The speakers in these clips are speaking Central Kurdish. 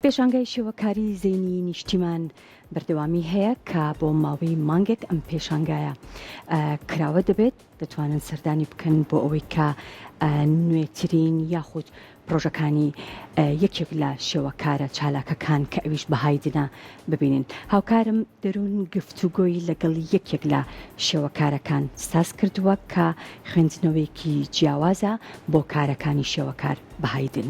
پێشانگای شێوەکاری زەینی نیشتیمان بەردەوامی هەیە کە بۆ ماوەی مانگێک ئەم پێشانگایە کراوە دەبێت دەتوانن سەردانی بکەن بۆ ئەوەی کە نوێترین یاخود پرۆژەکانی یەکێک لە شێوەکارە چالاکەکان کە ئەویش بەهای دنا ببینین هاوکارم دەروون گفتوگۆی لەگەڵ یەکێک لە شێوەکارەکان ساز کردووە کە خوێندنەوەیەکی جیاوازە بۆ کارەکانی شێوەکار بەهای دن.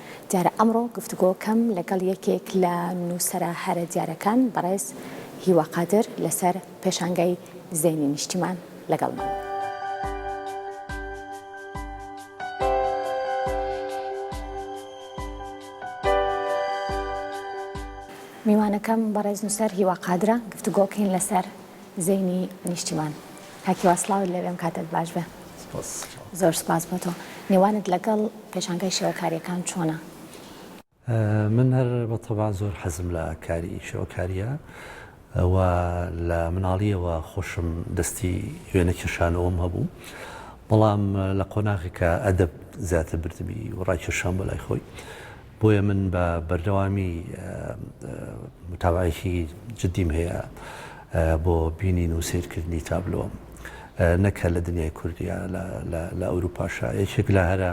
دیارە ئەمڕۆ گفتوگۆ کەم لەگەڵ یەکێک لە نووسەرە هەرە دیارەکان بەڕێز هیوا قادر لەسەر پێشانگای زەینی نیشتیمان لەگەڵمان. میوانەکەم بەڕێز نووسەر هیوا قادرە گفتوگۆکەین لەسەر. زەینی نیشتیمان. کاک هیوا سڵاوت لێ بێم کاتت باش بێ. سپاس. زۆر سپاس بۆ تۆ. نێوانت لەگەڵ پێشانگای شێوەکارییەکان چۆنە؟ من هەر بە تەبع زۆر حەزم لە کاری شێوەکارییە و لە مناڵییەوە خۆشم دەستی وێنە کێشانەوەم هەبوو بەڵام لە قۆناغێکا ئەدەب زیاتر بردمی و ڕاکێشام بۆ لای خۆی بۆیە من بە بەردەوامی متابەعەیەکی جدیم هەیە بۆ بینین و سەیرکردنی تابلۆ نەک هەر لە دنیای کوردیا لە ئەوروپاشا یەکێک لە هەرە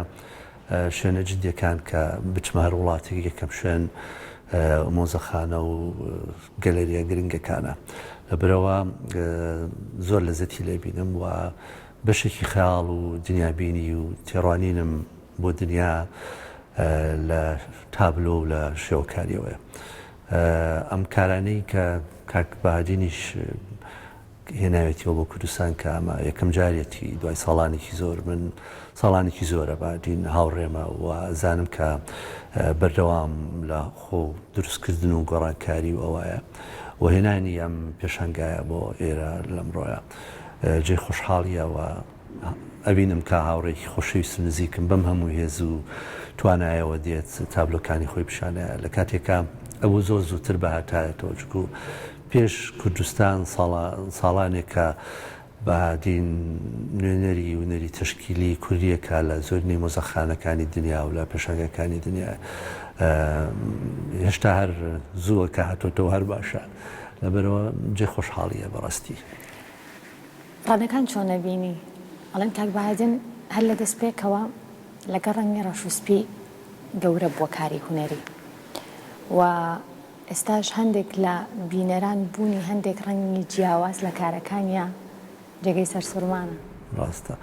شوێنە جدیەکان کە بچمە هەر وڵاتێک یەکەم شوێن مۆزەخانە و گەلەریە گرنگەکانە لە برەوە زۆر لە زەتی لێبینم و بەشێکی خەیاڵ و دنیابینی و تێڕوانینم بۆ دنیا لە تابلۆ و لە شێوەکارییەوەیە. ئەم کارانەی کە کاک بەهادینیش هێناوێتیەوە بۆ کوردستان کە ئەمە یەکەم جارێتی دوای ساڵانێکی زۆر، من ساڵانێکی زۆرە بەهادین هاوڕێمە و ئەزانم کە بەردەوام لە خۆ دروستکردن و گۆڕانکاری و ئەوەیە و هێنانی ئەم پێشانگایە بۆ ئێرە لەمڕۆیە جێی خۆشحاڵییە و ئەبینم کە هاوڕێیەکی خۆشەویست و نزیکم بەم هەموو هێز و توانایەوە دێت تابلۆکانی خۆی پیشانایە لە کاتێکا ئەبوو زۆر زووتر بهاتایەتەوە چونکو پێش کوردستان ساڵانێکە بەهادین نوێنەری ونەری تەشکیلی کوردیەکە لە زۆرینەی مۆزەخانەکانی دنیا و لە پێشانگەکانی دنیا هێشتا هەر زووە کە هاتۆتەوە هەر باشە لەبەرەوە جێ خۆشحاڵیە بەڕاستی. ڕەدەکان چۆنە بینی؟ ئەڵێن کاک بایدن هەر لە دەست پێکەوە لەگەڵ ڕەنگی ڕەش و سپی گەورە بووە کاری هونەری و ئێستاش هەندێک لە بینەران بوونی هەندێک ڕەنگی جیاواز لە کارەکانیا جێگەی سەرسوڕمانە. ڕاستە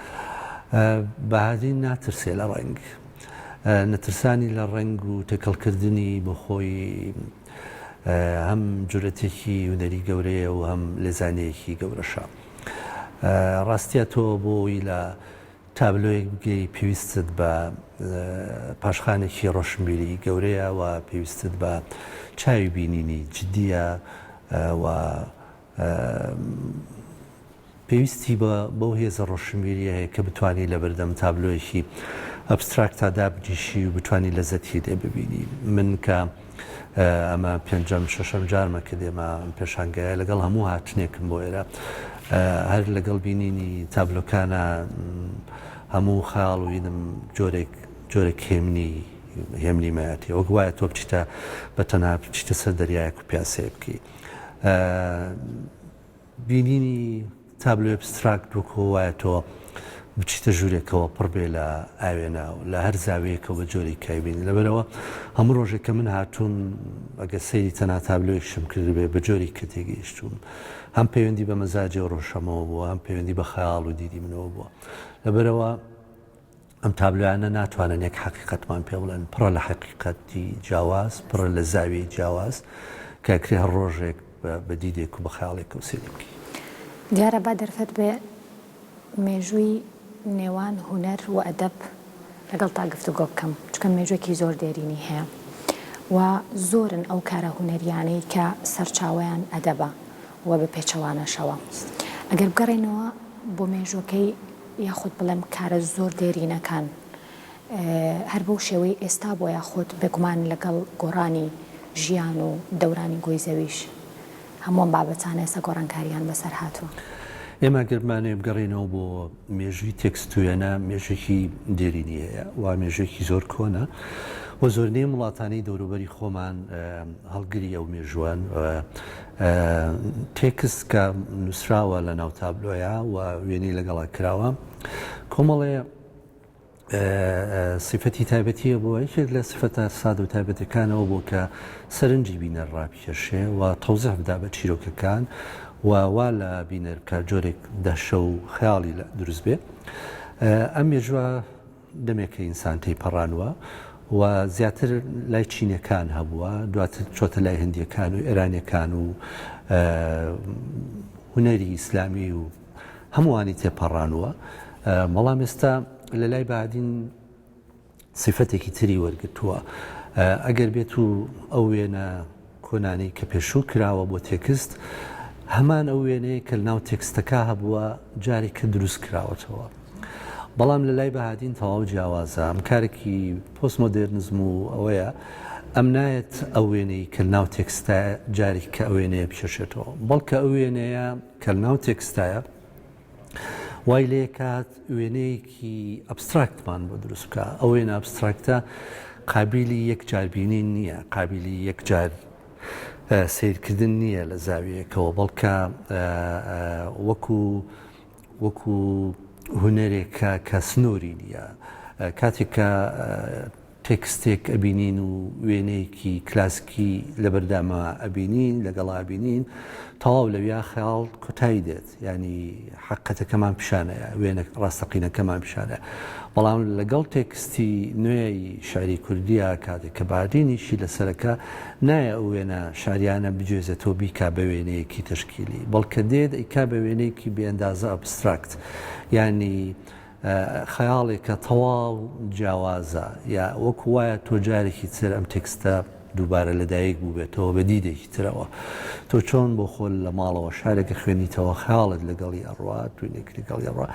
بایدن ناترسێ لە ڕەنگ. نەترسانی لە ڕەنگ و تێکەڵکردنی بۆ خۆی. هەم جورەتێکی هونەری گەورەیە و هەم لێزانەیەکی گەورەشە. ڕاستە تۆ بۆ ئەوەی لە تابلۆیەک بگەی پێویستت بە پاشخانێکی ڕۆشنبیری گەورەیە و پێویستت بە چاوی بینینی جدییە و پێویستی بە بەو هێزە ڕۆشنبیریە هەیە کە بتوانی لە بەردەم تابلۆیەکی ئەبستراکتا دابنیشی و بتانی لەزەتی لێ ببینی من کە ئەمە پێنجەم شەشەم جارمە کە دێمە پێشانگایە لەگەڵ هەموو هاتنێکم بۆ ئێرە هەر لەگەڵ بینینی تابلۆکانە هەموو خاڵ و وینم جۆرێک جۆرێک هێمنی هێمنی مایەتی وەک وایە تۆ بچیتە بە تەنها بچیتە سەر دەریایەک و پیاسەیە بکەیت. بینینی تابلۆی ئەبستراکت وەکۆ وایە تۆ بچیتە ژوورێکەوە پڕ بێ لە ئاوێنە و لە هەر زاویەکەوە بە جۆری کایبین لەبەرەوە هەموو ڕۆژێک کە من هاتووم ئەگە سەیری تەنا تابلۆیشم کردبێ بە جۆری کە تێگەیشتوم هەم پەیوەندی بە مەزاجی و ڕۆژەمەوە بووە هەم پەیوەندی بە خەیاڵ و دیدی منەوە بووە لەبەرەوە ئەم تابلۆیانە ناتوانن یەک حەقیقەتمان پێ بڵێن، پڕە لە حەقیقەتی جیاواز، پڕە لە زاویەی جیاواز، کە ئەکرێ هەر ڕۆژێک بە دیدێک و بە خەیاڵێکەوە سەیری بکەی. دیارە با دەرفەت بێ مێژووی نێوان هونەر و ئەدەب لەگەڵتا گفتوگۆ بکەم، چونکە مێژووێکی زۆر دێرینی هەیە و زۆرن ئەو کارە هونەرییانەی کە سەرچاوەیان ئەدەبە و بە پێچەوانەشەوە. ئەگەر بگەڕێینەوە بۆ مێژووەکەی یاخود بڵێم کارە زۆر دێرینەکان هەر بەو شێوەی ئێستا بووە یاخود بێگومان لەگەڵ گۆڕانی ژیان و دەورانی گۆی زەویش هەموو ئەم بابەتانە ئێستا گۆڕانکارییان بەسەر هاتووە. ئێمە گەر بمانەوێ بگەڕێینەوە بۆ مێژووی تێکست و وێنە مێژووێکی دێرینی هەیە و مێژووێکی زۆر کۆنە و زۆرینەی ئەم وڵاتانەی دەوروبەری خۆمان هەڵگری ئەو مێژووەن و تێکست کە نووسراوە لە ناو تابلۆیە و وێنەی لەگەڵا کراوە کۆمەڵێ سیفەتی تایبەتیە بۆ یەکێک لە سفەتە ساد و تایبەتەکانەوە بۆ کە سەرنجی بینەر ڕاپکێشێ و تەوزح بدا بە چیرۆکەکان و وا لە بینەر بکە جۆرێک دەشە و خیاڵی دروست بێ ئەم مێژوە دەمێکە ئینسان تێیپەڕانوە و زیاتر لای چینەکان هەبووە، دواتر چۆتە لای هندیەکان و ئێرانیەکان و هونەری ئیسلامی و هەمووانی تێپەڕانوە، بەڵام ئێستا لە لای بادین سیفەتێکی تری وەرگتووە ئەگەر بێت و ئەو وێنە کۆنانی کە پێشوو کراوە بۆ تێکست هەمان ئەو وێنەیە کە لەناو تێکستەکە هەبووە جارێکە دروست کراوەتەوە بەڵام لە لای بەهادین تەواو جیاوازە ئەم کارێکی پۆست مۆدێرنزم و ئەوەیە ئەم نایەت ئەو وێنەی کە لەناو تێکستە جارێک کە ئەو وێنەیە بکێشێتەوە بەڵکە ئەو وێنەیە کە لەناو تێکستایە وای لێکات وێنەیەکی ئەبستراکتمان بۆ دروست بکە ئەو وێنە ئەبستراکتە قابلی یەکجاربینین نییە قابلی یەکجار سیرکردن نییە لە زاویەکەەوە بەڵکە وەکو وەکو هوەرێکە کە سنووری نییە کاتێک کە تێکستێک ئەبینین و وێنەیەکی کلاسکی لەبەرداما ئەبینین لەگەڵا ئەبینین تەواو لەویا خەیاڵ کۆتایی دێت یانی حەقەتەکەمان پیشانەیە وێنە ڕاستەقینەکەمان پیشانە بەڵام لەگەڵ تێکستی نوێی شعری کوردیا کاتێک کە بادینیشی لەسەرەکە نایە ئەو وێنە شاریانە بجێزێتەوە بیکا بە وێنەیەکی تشکیلی بەڵکە دێت ئەیکا بە وێنەیەکی بێندازە ئەبستراکت یانی خەیاڵێکە تەواو جیاوازە یا وەکو وایە تۆ جارێکی تر ئەم تێکستە دووبارە لەدایک بووبێتەوە بە دیدێکی ترەوە تۆ چۆن بۆ خۆل لە ماڵەوە شارێک ئەخوێنیتەوە خەیاڵت لەگەڵی ئەڕوات و لێک لەگەڵی ئەڕوا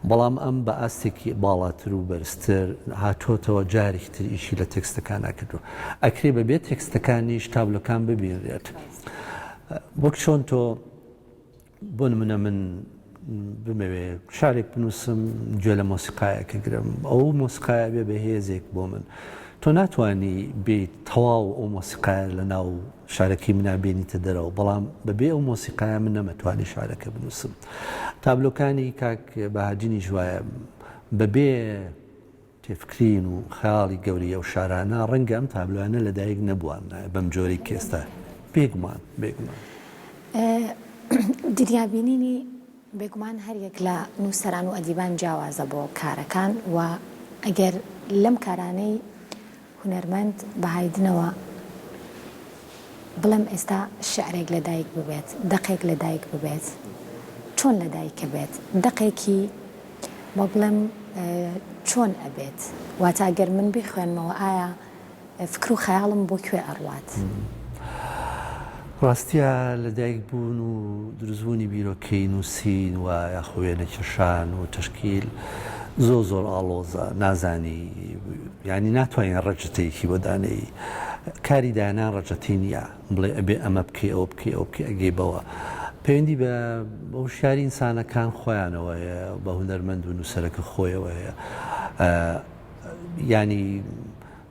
بەڵام ئەم بە ئاستێکی باڵاتر و بەرزتر هاتۆتەوە جارێکی تر ئیشی لە تێکستەکان ناکردو ئەکرێ بەبێ تێکستەکانیش تابلۆکان ببینرێت وەک چۆن تۆ بۆ نمونە من بمەوێ شارێک بنووسم گوێ لە مۆسیقایەکە گرم ئەو مۆسیقایە بێ بە هێزێک بۆ من تۆ ناتانی بیت تەواو ئەو مۆسیقایە لە ناو شارەکەی منابێنیتە دەرەوە بەڵام بەبێ ئەو مۆسیقایە من نەمەتوانی شارەکە بنووسم تابلۆکانی کاک بەهاجینی ژواە بەبێ تێفکرین و خەیاڵی گەورەی ئەو شارانە، ڕەنگە ئەم تابلۆیانە لە دایک نەبواننایە بەم جۆرەی کە ئێستا، بێگومان، بێگومان. دنیابینینی بێگومان هەر یەک لە نووسەران و ئەدیبان جیاوازە بۆ کارەکان و ئەگەر لەم کارانەی هونەرمەند بە هایدنەوە بڵێم ئێستا شیعرێک لە دایک ببێت دەقێک لە دایک ببێت چۆن لە دایک بێت دەقێکی با بڵێم چۆن ئەبێت واتە گەر من بیخوێنمەوە ئایا فکر و خەیاڵم بۆ کوێ ئەڕوات؟ ڕاستیە لە دایک بوون و دروست بوونی بیرۆکەی نووسین و یاخۆ وێنە کێشان و تەشکیل زۆر زۆر ئاڵۆزە نازانی یانی ناتوانین ڕەجتەیەکی بۆ دانێی کاری دانان ڕەجەتی نییە بڵێ ئەبێ ئەمە بکەی ئەوە بکەی ئەو بکە ئەگەی بەوە پەیوەندی بە هوشیاری ئینسانەکان خۆیانەوە هەیە بە هوەرمەند و نووسەرەکە خۆیەوە هەیە ینی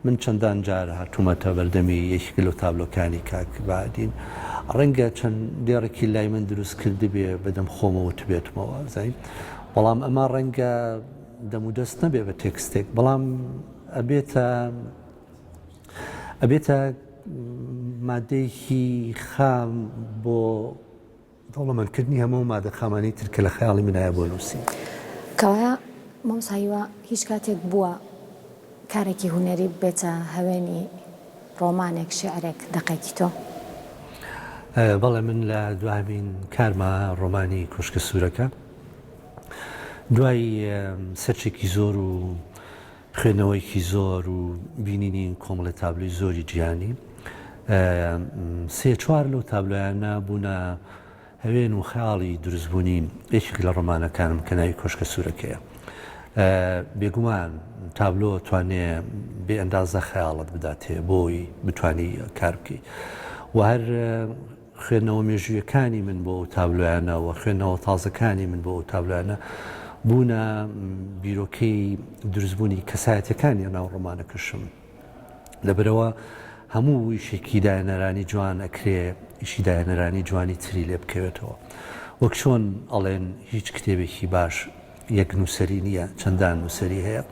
من چەندان جار هاتوومەتە بەردەمی یەکێک لەو تابلۆکانی کاک بەهادین، ڕەنگە چەند دێڕێکی لای من دروست کردبێ بەدەم خۆمە وتبێتمەوە زەین، بەڵام ئەمە ڕەنگە دەم و دەست نەبێ بە تێکستێک، بەڵام ئەبێتە ئەبێتە مادەیەکی خام بۆ دەوڵەمەند کردنی هەموو ئەو مادە خامانەی تر کە لە خەیاڵی من هەیە بۆ نووسین. کەوایە مامۆستا هیوا هیچ کاتێک بووە کارێکی هونەری ببێتە هەوێنی ڕۆمانێک، شیعرێک، دەقێکی تۆ؟ بەڵێ من لە دوایین کارما ڕۆمانی کۆشکە سوورەکە دوای سەرچێکی زۆر و خوێندنەوەیەکی زۆر و بینینی کۆمەڵێ تابلۆی زۆری جیهانی سێ چوار لەو تابلۆیانە بوونە هەوێن و خەیاڵی دروستبوونی یەکێک لە ڕۆمانەکانم کە ناوی کۆشکە سوورەکەیە بێگومان تابلۆ توانێ بێ ئەندازە خەیاڵت بداتێ بۆی بتانی کار بکەیت و هەر خوێندنەوە مێژوویەکانی من بۆ ئەو تابلۆیانە و خوێندنەوە تازەکانی من بۆ ئەو تابلۆیانە بوونە بیرۆکەی دروستبوونی کەسایەتەکانی ناو ڕۆمانەکەشم لەبەرەوە هەموو ویشێکی داەنەرانی جوان ئەکرێ ئیشی داەنەرانی جوانی تری لێ بکەوێتەوە وەک چۆن ئەڵێن هیچ کتێبێکی باش یەک نووسری نییە چەندان نووسری هەیە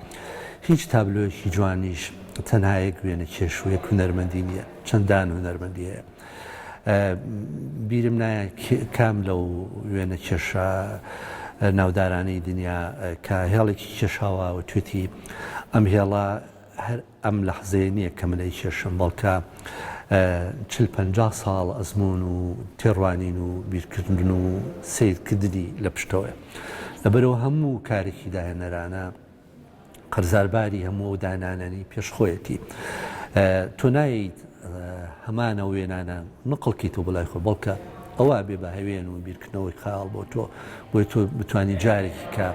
هیچ تابلۆیەکی جوانیش تەنهایەک وێنە کێشوویە هونەرمەندی نییە چەندان هونەرمەندی هەیە بیرم نایە کام لەو وێنە کێشە ناودارانەی دنیا کە هێڵێکی کێشاوە و توێتی ئەم هێڵە هەر ئەم لە حزەیە نییە کە منەی کێشم بەڵکە چل پ ساڵ ئەزمون و تێڕوانین و بیرکردن و سیرکردنی لە پشتەوەە لەبەرەوە هەموو کارێکی داهێنەرانە قەرزار باری هەموو ئەو دانانەنی پێش خۆیەتی تۆ ناییت هەمانە وێنانە نقڵکی تۆ بەلای خۆ بەڵکە ئەوە بێ بە هەوێن و بیرکردنەوەی خاڵ بۆ تۆ بۆی تۆ بتانی جارێکی کە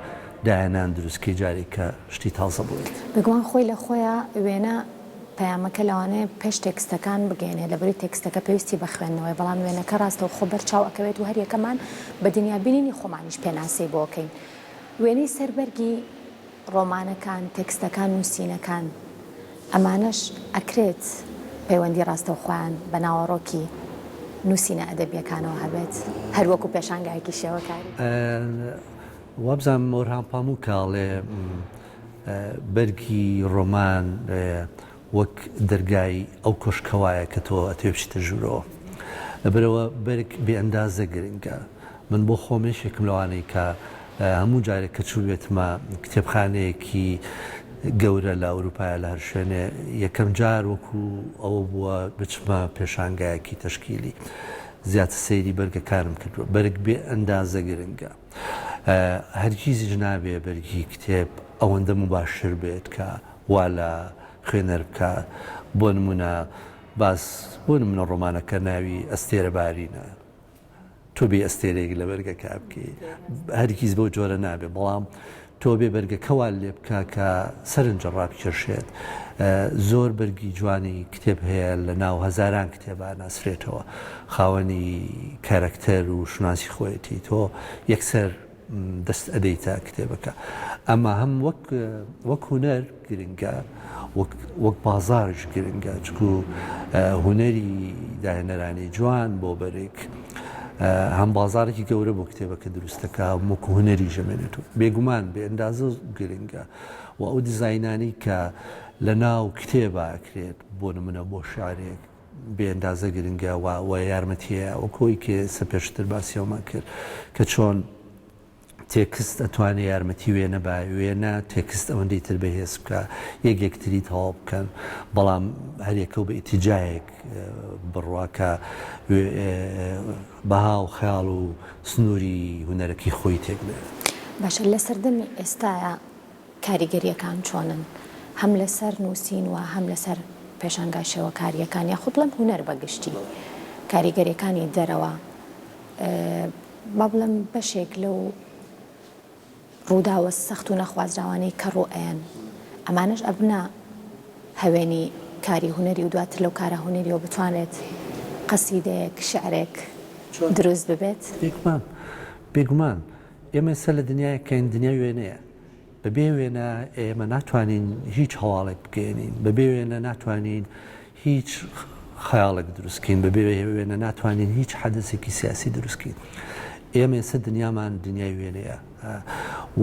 دایانان دروستکەی جارێکە شتی تازە بڵێت بگوان خۆی لە خۆیان وێنە پەیامەکە لەوانەیە پێش تێکستەکان بگەێنێ لەبری تێکستەکە پێویستی بە خوێندنەوەی بەڵام وێنەکە ڕاستەو خۆ بەرچاو ئەکەوێت و هەریەکەمان بە دنیابینینی خۆمانیش پێناسەی بۆکەین. وێنەی سەر بەرگی ڕۆمانەکان، تێکستەکان، نووسینەکان، ئەمانەش ئەکرێت پەیوەندی ڕاستەوخۆیان بە ناوەڕۆکی نووسینە ئەدەبییەکانەوە هەبێت، هەر وەکوو پێشانگایەکی شێوەکاری. وابزانم ئۆرهان پاموک ئەڵێ بەرگی ڕۆمان وەک دەرگای ئەو کۆشکە وایە کە تۆ ئەتەوێ بچیتە ژوورەوە بەرەوە بەرگ بێ ئەندازە گرنگە من بۆ خۆم یەکێکم لەوانەی کە هەموو جارێک کە چووبێتمە کتێبخانەیەکی گەورە لە ئەوروپایا لە هەر شوێنێ یەکەم جار وەکو ئەوە بووە بچمە پێشانگایەکی تەشکیلی زیاتر سەیری بەرگەکانم کردووە بەرگ بێ ئەندازە گرنگە. هەرگیزیش نابێ بەرگی کتێب ئەوەندە موباشر بێت کە وا لە خوێنەر بکات، بۆ نموونە باس بۆ نموونە ڕۆمانەکە ناوی ئەستێرە بارینە، تۆ بێی ئەستێرەیەک لە بەرگەکە بکەی، هەرگیز بەو جۆرە نابێ، بەڵام تۆبێ بەرگە کەوال لێبکە کە سەرنجە ڕابکێشێت زۆر بەرگی جوانی کتێب هەیە لە ناو هەزاران کتێبا ناسرێتەوە خاوەنی کارەکتەر و شوناسی خۆیەتی تۆ یەکسەر دەست ئەدەیتە کتێبەکە ئەمە هەم وەک وەک هوەر گرنگە وەک وەک بازاڕیش گرنگە چکو هونەری داهێنەرانی جوان بۆ بەرێک هەم بازارێکی گەورە بۆ کتێبەکە دروستەکە وەکو هونەری ژەمێنێت و بێگومان بێ ئەندازە گرنگە و ئەو دیزینانی کە لە ناو کتێبە ئەکرێت بۆ نمونە بۆ شعرێک بێندازە گرنگە و یارمەتیە وەکۆی کە سە پێشتر باسیەوەمان کرد کە چۆن تێکست ئەتوانێ یارمەتی وێنە با وێنە تێکست ئەوەندەی تر بەهێز بکا یەک یەکتری تەواو بکەن بەڵام هەریەکەو بە ئیتیجایەک بڕوا کە بەها و خەیاڵ و سنووری هونەرەکەی خۆی تێک بێنێت. باشە لە سەردەمی ئێستایا کاریگەرییەکان چۆنن هەم لەسەر نووسین و هەم لەسەر پێشانگای شێوەکارییەکان یاخود بڵێم هونەر بە گشتی کاریگەرییەکانی دەرەوە با بڵێم بەشێک لەو ڕووداوە سەخت و نەخوازراوانەی کە ڕوئەیەن ئەمانەش ئەبنە هەوێنی کاری هونەری و دواتر لەو کارە هونەریەوە بتوانێت قەسیدەیەک شعرێک دروست ببێت؟ بێگومان بێگومان. ئێمە ئێستا لە دنیایەک کەین دنیای وێنەیە، بەبێ وێنە ئێمە ناتوانین هیچ هەواڵێک بگەیەنین، بەبێ وێنە ناتوانین هیچ خەیاڵێک دروست بکەین، بەبێ وێنە ناتوانین هیچ حەدەسێکی سیاسی دروست بکەین. ئێمە ئێستا دنیامان دنیای وێنەیە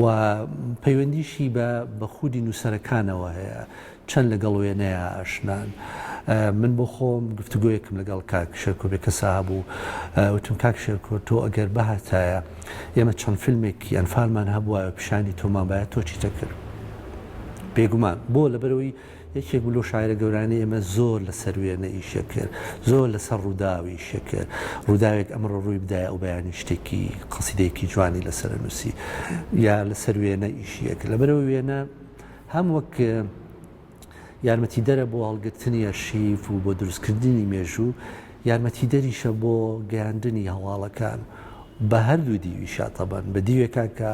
و پەیوەندیشی بە خودی نووسەرەکانەوە هەیە. چەند لەگەڵ وێنەیا ئاشنان. من بۆ خۆم گفتوگۆیەکم لەگەڵ کاک شێرکۆ بێکەسە هەبوو. وتم کاک شێرکۆ تۆ ئەگەر بهاتایە، ئێمە چەند فیلمێکی ئەنفالمان هەبوایە و پیشانی تۆمان بایە، تۆ چیت ئەکرد؟ بێگومان. بۆ؟ لەبەرئەوەی یەکێک بوو لەو شاعیرە گەورانەی ئێمە زۆر لەسەر وێنە ئیشی ئەکرد، زۆر لەسەر ڕووداو ئیشی ئەکرد. ڕووداوێک ئەمڕۆ ڕووی بدایە ئەو بەیانی شتێکی، قەسیدەیەکی جوانی لەسەر ئەنووسی. یا لەسەر وێنە ئیشی ئەکرد. لەبەرئەوەی وێنە. هەم وەک یارمەتیدەرە بۆ هەڵگرتنی ئەرشیف و بۆ دروستکردنی مێژوو، یارمەتیدەریشە بۆ گەیاندنی هەواڵەکان بە هەردوو دیوی شاتەبەن، بە دیوێکا کە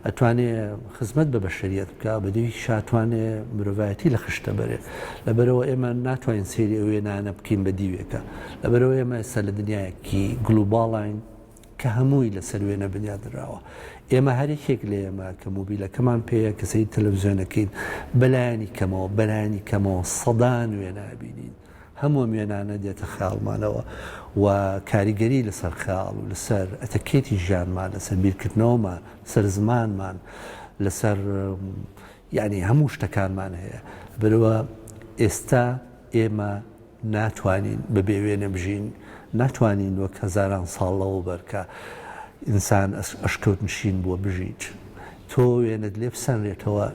ئەتوانێ خزمەت بە بەشەریەت بکا، بە دیوێکیش ئەتوانێ مرۆڤایەتی لە خشتە بەرێ. لەبەرئەوە ئێمە ناتوانین سەیری ئەو وێنانە بکەین بە دیوێکا. لەبەرئەوە ئێمە ئێستا لە دنیایەکی گلوباڵاین. کە هەمووی لەسەر وێنە بنیادنراوە ئێمە هەر یەکێک لە ئێمە کە مۆبیلەکەمان پێیە کە سەیری تەلەڤزیۆنەکەین بەلایەنی کەمەوە بەلایەنی کەمەوە سەدان وێنە ئەبینین هەموو وێنانە دێتە خەیاڵمانەوە و کاریگەری لەسەر خەیاڵ و لەسەر ئەتەکێتی ژیانمان لەسەر بیرکردنەوەمان سەر زمانمان لەسەر یعنی هەموو شتەکانمان هەیە بەرەوە ئێستا ئێمە ناتوانین بەبێ وێنە بژین، ناتوانین وەک هەزاران ساڵ لەوەوبەر کە ئینسان ئەشکەوت نشین بووە بژیت. تۆ وێنەت لێ بسەنرێتەوە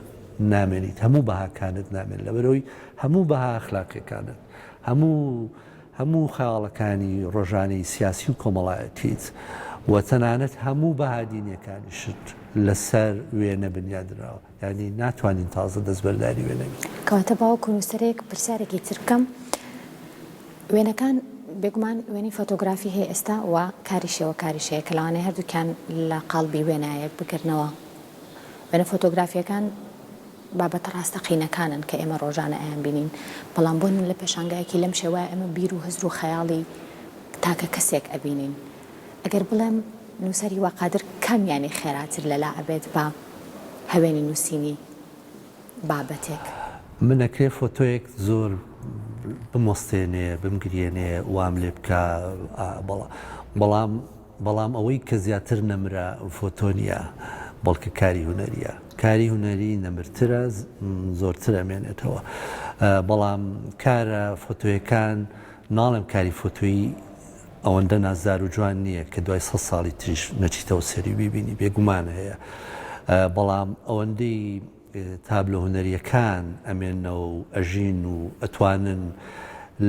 نامێنیت، هەموو بەهاکانت نامێن لەبەرئەوەی هەموو بەها ئەخلاقیەکانت، هەموو هەموو خەیاڵەکانی ڕۆژانەی سیاسی و کۆمەڵایەتیت و تەنانەت هەموو بەها دینیەکانیشت لەسەر وێنە بنیادنراوە. یانی ناتوانین تازە دەستبەرداری وێنە بین. کەواتە باوک و نووسەرێک پرسیارێکی تر بکەم وێنەکان بێگومان وێنەی فۆتۆگرافی هەیە ئێستا و کاری شێوەکاریش هەیە کە لەوانەیە هەردووکیان لە قاڵبی وێنایەک بگرنەوە وێنە فۆتۆگرافییەکان بابەتە ڕاستەقینەکانن کە ئێمە ڕۆژانە ئەیانبینین بەڵام بۆ نمونە لە پێشانگایەکی لەم شێوەیە ئێمە بیر و هزر و خەیاڵی تاکە کەسێک ئەبینین ئەگەر بڵێم نووسەری وا قادر کامیانی خێراتر لەلا ئەبێت بە هەوێنی نووسینی بابەتێک؟ من ئەکرێ فۆتۆیەک زۆر بمۆستێنێ بمگریێنێ وام لێ بکا بەڵام بەڵام ئەوەی کە زیاتر نەمرە فۆتۆ نیە بەڵکە کاری هونەریە کاری هونەری نەمرترە زۆرتر ئەمێنێتەوە بەڵام کارە فۆتۆیەکان ناڵێم کاری فۆتۆیی ئەوەندە نازدار و جوان نییە کە دوای سەد ساڵی تریش نەچیتەوە سەری و بیبینی، بێگومان هەیە، بەڵام ئەوەندەی تابلۆ هونەرییەکان ئەمێننەوە و ئەژین و ئەتوانن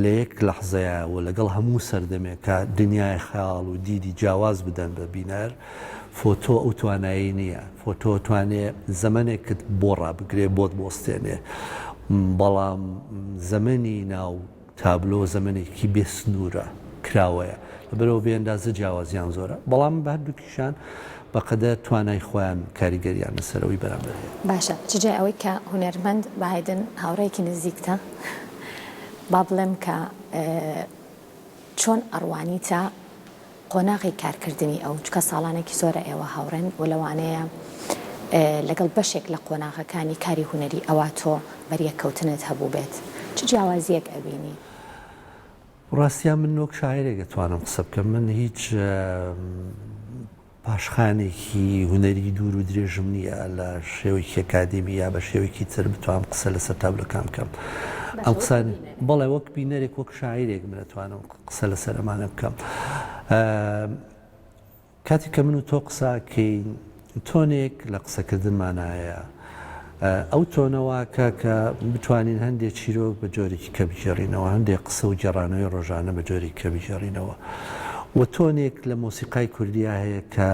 لە یەک لەحزەیا و لەگەڵ هەموو سەردەمێکا دنیای خەیاڵ و دیدی جیاواز بدەن بە بینەر، فۆتۆ ئەو توانایەی نییە. فۆتۆ ئەتوانێ زەمەنێکت بۆ ڕابگرێ، بۆت بوەستێنێ، بەڵام زەمەنی ناو تابلۆ زەمەنێکی بێ سنوورە کراوەیە، لەبەرئەوە بێ ئەندازە جیاوازیان زۆرە، بەڵام بە هەردووکیشان بە قەدەر توانای خۆیان کاریگەریان لەسەر ئەوی بەرامبەر هەیە. باشە چ جای ئەوەی کە هونەرمەند بایدن هاوڕێیەکی نزیکتە با بڵێم کە چۆن ئەڕوانیتە، قۆناغی کارکردنی ئەو، چونکە ساڵانێکی زۆرە ئێوە هاوڕێن و لەوانەیە لەگەڵ بەشێک لە قۆناغەکانی کاری هونەری ئەوا تۆ بەریەککەوتنت هەبووبێت، چ جیاوازییەک ئەبینی؟ ڕاستیان من وەک شاعیرێک ئەتوانم قسە بکەم، من هیچ پاشخانێکی هونەری دوور و درێژم نییە لە شێوەیەکی ئەکادیمی یا بە شێوەیەکی تر بتوانم قسە لەسەر تابلۆکان بکەم. ئەم قسانە بەڵێ وەک بینەرێک وەک شاعیرێک من ئەتوانم. قسە لەسەر ئەمانە بکەم. کاتێک کە من و تۆ قسە ئەکەین، تۆنێک لە قسەکردنمان هەیە. ئەو تۆنە واکە کە بتوانین هەندێ چیرۆک بە جۆرێکی کە بگێڕینەوە، هەندێ قسە و گێڕانەوەی ڕۆژانە بە جۆرێک کە بگێڕینەوە. وە تۆنێک لە مۆسیقای کوردیا هەیە کە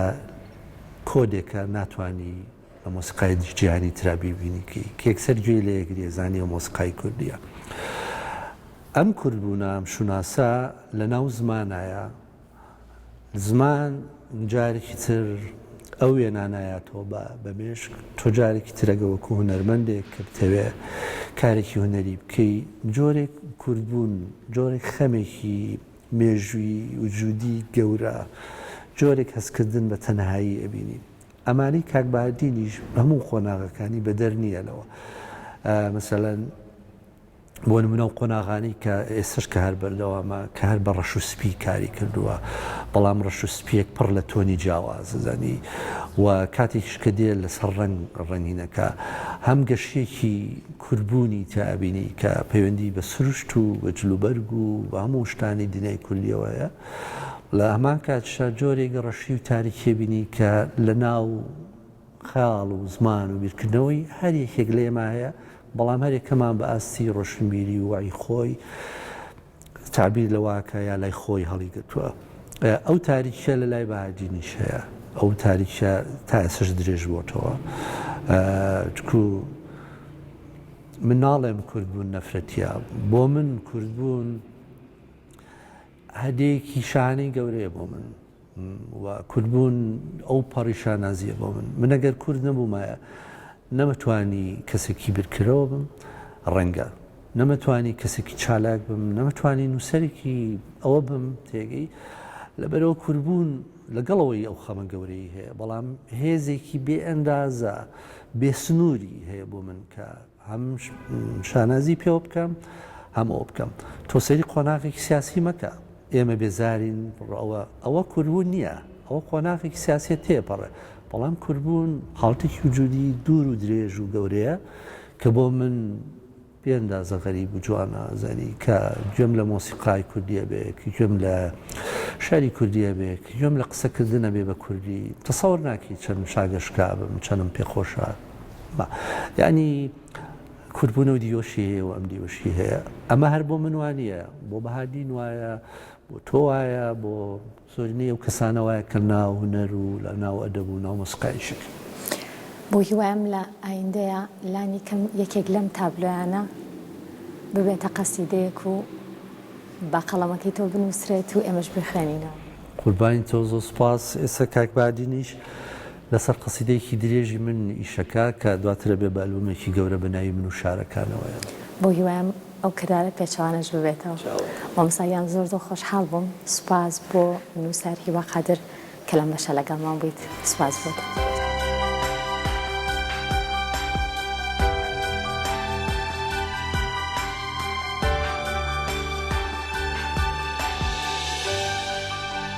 کۆدێکە ناتوانی لە مۆسیقای جیهانی ترا بیبینی کە یەکسەر گوێی لێ ئەگری ئەزانی ئەو مۆسیقای کوردییە. ئەم کوردبوونە، ئەم شوناسە لە ناو زمانایە، زمان جارێکی تر ئەو وێنانایاتەوە بە بە مێشک، تۆ جارێکی تر ئەگە وەکوو هونەرمەندێک کە بتەوێ کارێکی هونەری بکەی، جۆرێک کوردبوون، جۆرێک خەمێکی مێژوویی وجوودی گەورە، جۆرێک هەستکردن بە تەنهایی ئەبینی. ئەمانەی کاک بەهادینیش هەموو قۆناغەکانی بەدەر نییە لەوە مەسەلەن بۆ نمونەو قۆناغانی کە ئێسش کە هەر بەردەوامە کە هەر بە ڕەش و سپی کاری کردووە بەڵام ڕەش و سپیەک پڕ لە تۆنی جیاواززانی و کاتێکش کە دێ لەسەر ڕنگ ڕنگینەکە هەم گەشتێکی کوربوونی تابینی کە پەیوەندی بە سروشت و بە جلوبەرگ و بە هەموو شتانی دنیای کوردیەوەیە لە هەمان کاتیشدا جۆرێک ڕەشی و تاریکیە بینی کە لە ناو خەیاڵ و زمان و بیرکردنەوەی هەر یەکێک لێما هەیە، بەڵام هەر یەکەمان بە ئاستی ڕۆشنبیری و وەعی خۆی تەعبیر لە واکە یا لای خۆی هەڵیگرتووە. ئەو تاریکیە لە لای بەهادینیش هەیە، ئەو تاریکیە تا ئێستاش درێژ بۆتەوە. چکو من ناڵێم کوردبوون نەفرەتیە، بۆ من کوردبوون، هەدێکی شانەی گەورەیە بۆ من و کوردبوون ئەو پەڕی شانازیە بۆ من من ئەگەر کورد نەبوومایە نەمەتوانی کەسێکی برکرەوە بم ڕەنگە نەمەتوانی کەسێکی چالاک بم نەمەتوانی نووسەرێکی ئەوە بم تێگەی لەبەرەوە کوربوون لەگەڵەوەی ئەو خەمە گەورەی هەیە بەڵام هێزێکی بێ ئەندازە بێسنووری هەیە بۆ من کە هەم شانازی پێوە بکەم هەم ئەوە بکەم تۆ سەیری قۆناغێکی سیاسی مەکە ئێمە بێزارین ڕەوە ئەوە کوربوون نییە ئەوە قۆناغێکی سیاسیە تێپەڕێ بەڵام کوربوون حاڵتێکی وجودی دوور و درێژ و گەورەیە کە بۆ من بێندازە غەریب و جوانە زەنی کە گوێم لە مۆسیقای کوردیە بێ کە گوێم لە شاری کوردیە بێ کە گوێم لە قسەکردنە بێ بە کوردی تەسەور ناکەی چەند شاگەشکابم چەنم پێخۆشە بە یانی کوردبوون و دیۆشی هەیە و ئەم دیۆشی هەیە ئەمە هەر بۆ من وانە بۆ بەهادین وایە بۆ تۆ وایە بۆ زۆرینەی و کەسانە وایە کە ناو هوەر و لە ناو ئەدەب و ناو مۆسقایشک بۆ هیوایم لە ئایندەیە لانی کەم یەکێک لەم تابلۆیانە ببێتە قەسیدەیەک و بە قەڵەمەکەی تۆ بنووسرێت و ئێمەش بخوێنینەوە قوربانی تۆ زۆ سپاس ئێستا کاک بادینیش لەسەر قەسیدەیەکی درێژی من ئیشەکە کە دواتر ئەبێ بە ئەلبومێکی گەورە بە ناوی من و شارەکانەوەیە. بۆ هیوایم ئەو کردارە پێچەوانەش ببێتەوە. مامۆستا گیان زۆر زۆر خۆشحاڵ بووم. سوپاس بۆ نووسەر هیوا قادر کە لەم بەشە لەگەڵمان بوویت. سوپاس بۆت.